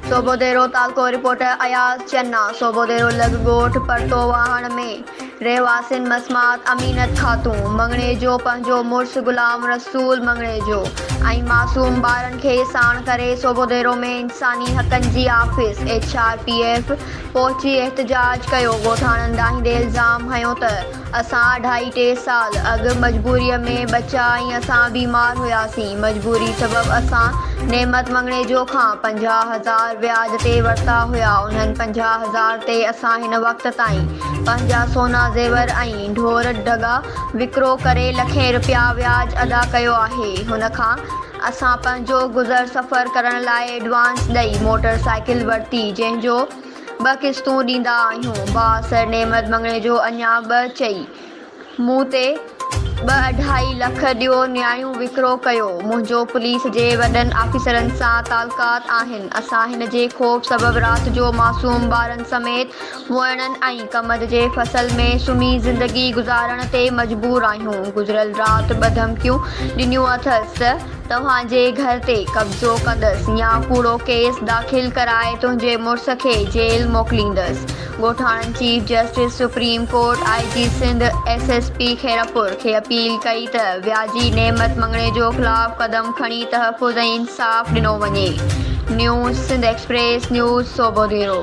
صوبو ديرو تعلقو رپورٽر اياز چنا صوبو ديرو لڳ ڳوٺ پرتو واهڻ ۾ رهواسين مسمات امينت خاتون مڱڻيجو پنهنجو مڙس غلام رسول مڱڻيجو ۽ معصوم ٻارن کي ساڻ ڪري صوبو ديرو ۾ انساني حقن جي office H R P F پهچي احتجاج ڪيو ڳوٺاڻن ڏاهيندي الزام هنيو ته اسان اڍائي ٽي سال اڳ مجبوريء ۾ ٻچا ۽ اسان بيمار هياسين. مجبوري سبب اسان نعمت مڱڻيجو کان پنجاهه هزار وياج تي ورتا هيا. انهن پنجاهه هزار تي اسان هن وقت تائين پنهنجا سونا زيور ۽ ڍور ڍڳا وڪرو ڪري لکين رپيا وياج ادا ڪيو آهي. هن کان اسان پنهنجو گذر سفر ڪرڻ لاء ايڊوانس ڏئي موٽر سائيڪل ورتي جنهن جو ٻه قسطون ڏيندا آهيون. باء سر نعمت مڱڻي جو اڃا ٻه چئي. مون تي ٻه اڍائي لک ڏيو نياڻيون وڪرو ڪيو. منهنجو پوليس جي وڏن آفيسرن سان تعلقات آهن. اسان هن جي خوف سبب رات جو معصوم ٻارن سميت وئڻن ۽ ڪمند جي فصل ۾ سمهي زندگي گذارڻ تي مجبور آهيون. گذريل رات ٻه ڌمڪيون ڏنيون اٿس ته. توهان جي گهر تي قبضو ڪندس يا ڪوڙو ڪيس داخل ڪرائي تنهنجي مڙس کي جيل موڪليندس، ڳوٺاڻن chief justice supreme court, I G Sindh, S S P Khairpur کي اپيل ڪئي ته وياجي نعمت مڱڻيجو خلاف قدم کڻي تحفظ ۽ انصاف ڏنو وڃي، news Sindh express news Sobho ديرو.